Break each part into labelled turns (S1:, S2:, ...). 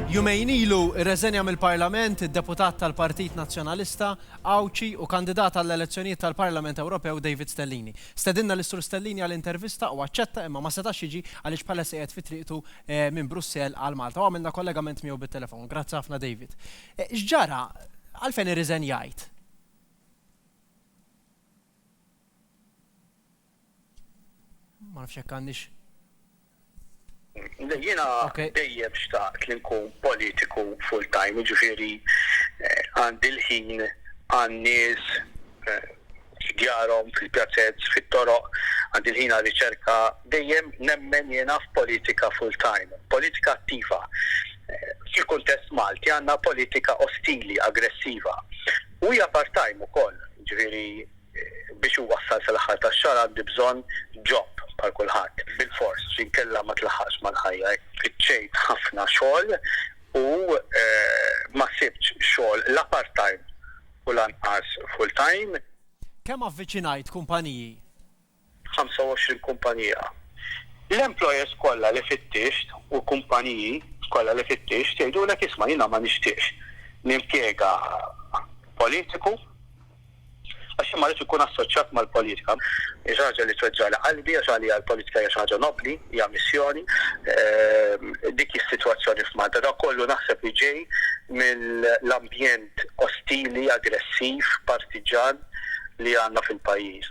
S1: Jumejn ilu rreżenja mill-Parlament id-Deputat tal-Partit Nazzjonalista, Għawdxi u kandidat għall-elezzjonijiet tal-Parlament Ewropew David Stellini. Stedinna lil Sur Stellini għal intervista u aċċetta imma ma setax jiġi għaliex bħalissa qiegħed fi triqtu minn Brussell għal Malta u għamilna kollegament miegħu bit-telefon. Grazzi ħafna David. X'ġara? Għalfejn irriżenjajt? Ma nafx hekk għandix. Jiena dejjem xtaqt li nkun politiku full time, jiġifieri eh, għandi l-ħin għan-nies eh, f'djarhom, fil-pjazez, fit-toroq, għandi l-ħin għal riċerka, dejjem nemmen jiena f'politika full time, politika attiva. Eh, fil-kuntest Malti għandna politika ostili, aggressiva. U hija part time ukoll, ġifieri biex iwassal sal-aħħar tax-xahar għandi bżonn job bħal kulħadd. Bilfors, inkella ma tlaħħaqx mal-ħajja. Tfittxejt ħafna xogħol u ma sibtx xogħol la part-time u lanqas full-time. Kemm avviċinajt kumpaniji. 25 kumpanija. L-employers kollha li fittixt u l-kumpaniji kollha li fittixt jgħidulek isma' jiena ma nixtieqx nimpjega politiku għax jien ma rridx inkun assoċjat mal-politika. Hija xi ħaġa li tweġġagħli qalbi għax għalija l-politika hija xi ħaġa nobbli, hija missjoni. Dik hi s-sitwazzjoni f'Malta. Dan kollu naħseb li ġej mill-ambjent ostili, aggressiv, partiġġan li għandna fil-pajjiż.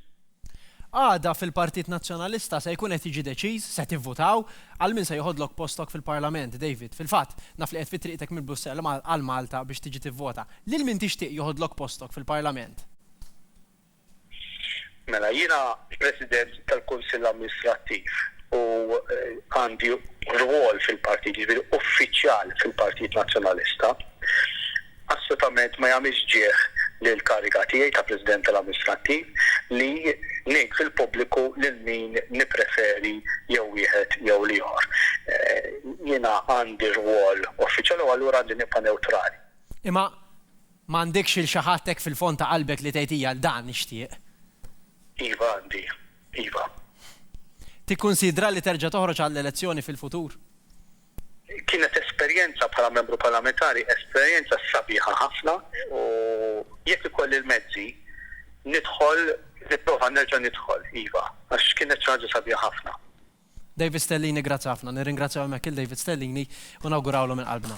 S1: Għada fil-Partit Nazzjonalista se jkun qed jiġi deċiż, se tivvutaw, għal min se joħodlok postok fil-Parlament, David. Fil-fatt, naf li qed fi triqtek minn Brussell għal Malta biex tiġi tivvota. Lil min tixtieq joħodlok postok fil-Parlament? Mela, jiena President tal-Kunsill Amministrattiv u għandi rwol fil-Partit, jiġifieri uffiċjal fil-Partit Nazzjonalista. Assolutament ma jagħmilx ġieh lill-kariga tiegħi ta' President tal-Amministrattiv li ngħid fil-pubbliku lil min nippreferi jew wieħed jew l-ieħor. Jiena għandi rwol uffiċjali u allura għandi nibqa' newtrali. Imma m'għandekx lil xi ħadd hekk fil-fond ta' qalbek li tgħid hija dan nixtieq? Iva għandi, iva. Tikkunsidra li terġa' toħroġ għall-elezzjoni fil-futur? Kienet esperjenza bħala Membru Parlamentari, esperjenza sabiħa ħafna u jekk ikolli l-mezzi nidħol, nipprova nerġa' nidħol, iva, għax kienet xi ħaġa sabiħa ħafna. David Stellini, Grazzi ħafna. Nirringrazzjaw hemmhekk lil David Stellini u nawgurawlu minn qalbna.